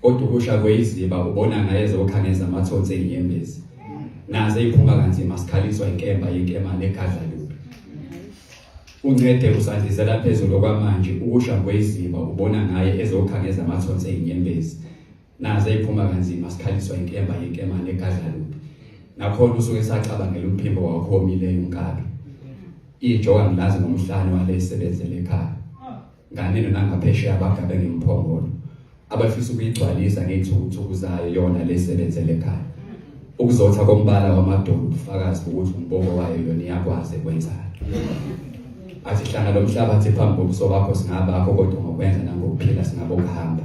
Kodwa ukusha kweyiziba ubona ngaye zoqhaneza amathonsi enyembezi. Naze iphuma kanzima sikhaliswa inkemba yenkema negadla lubi. Uncede usandizela phezulu kwamanje ukusha kweyiziba ubona ngaye ezoqhaneza amathonsi enyembezi. Naze iphuma kanzima sikhaliswa inkemba yenkema negadla lubi. Nakhona usuke sacabangela umphimbo wakho omileyo unkabi. Ijoka ngilazi ngomhlane wale isebenzele ekhaya. nganeno nangaphesheya abagabe ngemphongolo abafisa ukuyigcwalisa ngey'thukuthuku zayo yona le sebenzele ekhaya ukuzotha kombala wamadoda ubufakazi bokuthi umbobo wayo yona iyakwazi ekwenzayo athi hlanga lo mhlaba athi phambi kobuso bakho singabakho kodwa ngokwenza nangokuphila singabokuhamba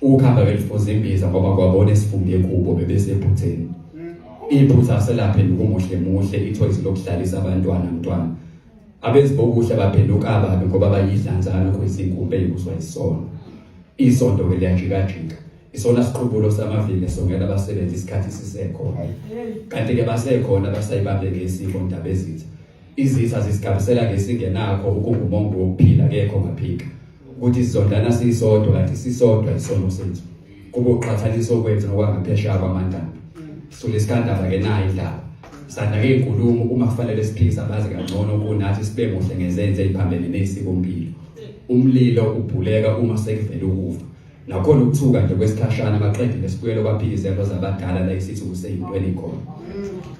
ukuhamba belifuza imbiza ngoba kwabona esifunde kubo bebesephutheni iphutha selaphe nokumuhle muhle ithoyizi lokuhlalisa abantwana mntwana abenzi bokuhle baphenduka ababi ngoba bayidlanzana kuyisinkumbe yokuzwa isono isonto ke liyajikajika isona siqhubulo samavile songela abasebenzi isikhathi sisekhona kanti ke basekhona basayibambe ngesiko ndaba ezitha izitha zisigabisela ngesingenakho ukungumongo wokuphila kekho ngaphika ukuthi sizondlana sisodwa kanti sisodwa isono sethu kube uqhathanisa okwethu nokwangaphesheya kwamandaba sule sikandaba ke nayo indaba sanda ke inkulumo uma kufanele siphikise abazi kangcono kunathi sibe muhle ngezenze eziphambene nesiko mpilo umlilo ubhuleka uma sekuvele ukufa nakhona ukuthuka nje kwesikhashana baqede lesibuyelo baphikizelo zabadala la isithi kuseyintweni khona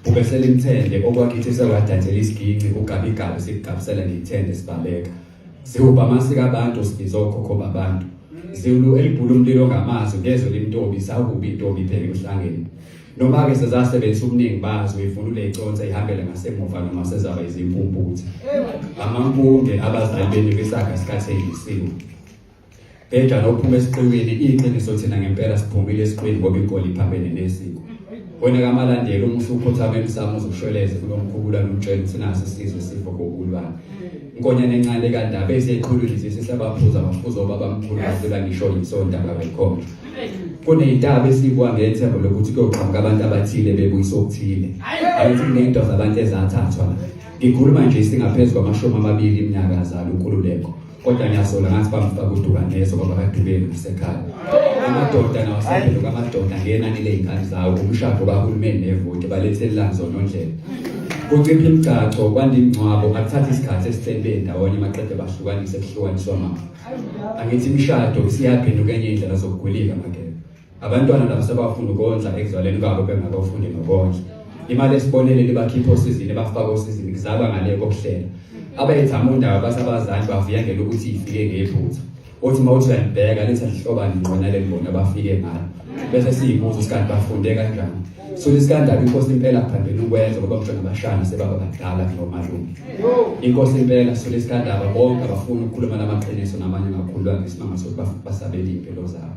kube selimthende okwakhithi sewadatshela isiginci ugabigabe sikugabisela ngithende sibaleka Siwubhama sikabantu sibiza okhokho babantu. Zulu elibhula umlilo ngamazwi ngezwe limntombi sakubi intombi phela uhlangene. Noma ke sezasebenzisa ubuningi bazo ivunule iconsa ihambele ngasemuva noma sezaba izimpumputhe. Amampunge abazali benu kwisaga sikhathekisiwe. Bheda lophuma esiqiwini iqiniso thina ngempela siphumile esiqiwini ngoba igoli iphambene nesiko. Wena kamalandela uma usukhothama emsamo uzoshweleze kulomkhubula lutshela ukuthi nasi sizwe sifo kokulwana. Inkonyane encane kandaba eseqhulwini nje sesabaphuza amaphuzo babamkhulu bafika ngisho insonda babekhomba. Kuneyintaba esibwa ngethemba lokuthi kuyoqhamuka abantu abathile bebuyisa okuthile. Ayithi kunento zabantu ezathathwa. Ngikhuluma nje singaphezulu kwamashumi amabili iminyaka azalo uNkululeko. kodwa ngiyasola ngathi bamfaka udukaneso ngoba kadukeli kusekhaya amadoda nawasebelo kamadoda ngenani ley'ngane zawo umshado kahulumeni nevoti balethelelani zona ondlela kucipha imigcaco kwanda imingcwabo akuthatha isikhathi esihleli bendawonye maqede bahlukanise kuhlukaniswa mama angithi imishado siyaphenduka enye indlela zokugulika makela abantwana nabo sebafunda ukondla ekuzalweni kwabo bengakafundi nokondla imali esiboneleli bakhipha osizini bafaka osizini kuzalwa ngale kokuhlela abayethama undaba basabazali bavuya ngelo ukuthi ifike ngephutha othi uma uthi uyalibheka lithi alihloba ngqona lelibona bafike ngalo bese siyibuza isikhathi bafunde kanjani so isikandaba inkosi impela phambili ukwenza ngoba mhlawumbe abashana sebaba badala nomalume inkosi impela so isikandaba bonke abafuna ukukhuluma namaqiniso namanye amakhulu angesimanga sokuthi basabele impilo zabo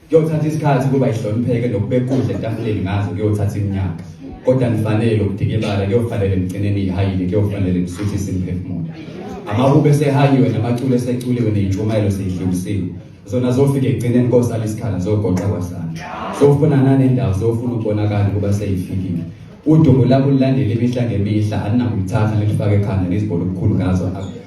Kuyothatha isikhathi ukuba ihlonipheke nokubekudla etafuleni ngazo kuyothatha iminyaka. Kodwa nifanele ukudikibala kuyofanele nigcineni ihayile kuyofanele nisuthise imiphefumulo. Amahubo esehayiwe namaculo eseculiwe neyintshumayelo seyidlulisiwe. Zona zofike ekugcineni kosala isikhala zogoqa kwasana. Sofuna nanendawo sofuna ukubonakala ukuba seyifikile. Udumo labo lulandela imihla ngemihla aninakulithatha nilifake ekhanda nizibone ubukhulu ngazo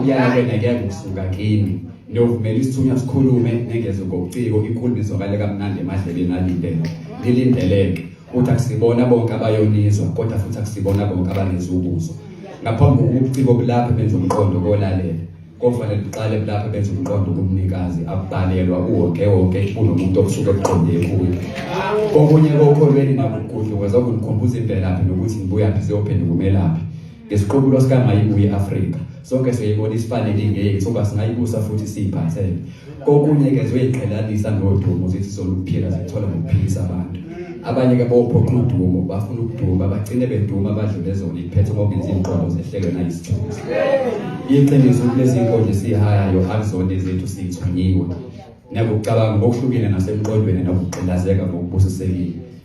Uyala kwena ngeke usuka kimi. Ngiyovumela isithunywa sikhulume nengeze ngobuciko inkulumo izwakale kamnandi emadleleni alindele. Ngilindeleke. Uthi akusibona bonke abayonizwa kodwa futhi akusibona bonke abanezubuzo. Ngaphambi kokubuciko bulaphe benza umqondo kolalela. Kofanele buqale bulaphe benza umqondo kumnikazi abhalelwa uwonke wonke kunomuntu okusuke kuqonde kuye. Okunye kokholweni nakugudluka zokungikhumbuza imvelaphi nokuthi ngibuyaphi siyophenduka umelaphi. Ngesiqubulo sikaMayibuye i-Afrika, sonke siyayibona isifanele ingeke sokuba singayibusa futhi siyiphathele. Kokunye ke ziyoyiqhelanisa nodumo zithi soluphila zithola ngokuphilisa abantu. Abanye-ke bophoqa udumo bafuna ukuduma bagcine beduma badlule zona iphethe ngokuthi izinqondo zehlelwe nayisithunzi. Iqiniso ukuthi lezi nkonzo esiyihayayo akuzona ezethu siyithunyiwe. Nakucabanga ngokuhlukile nasemqondweni nokugqilazeka ngokubusisekile.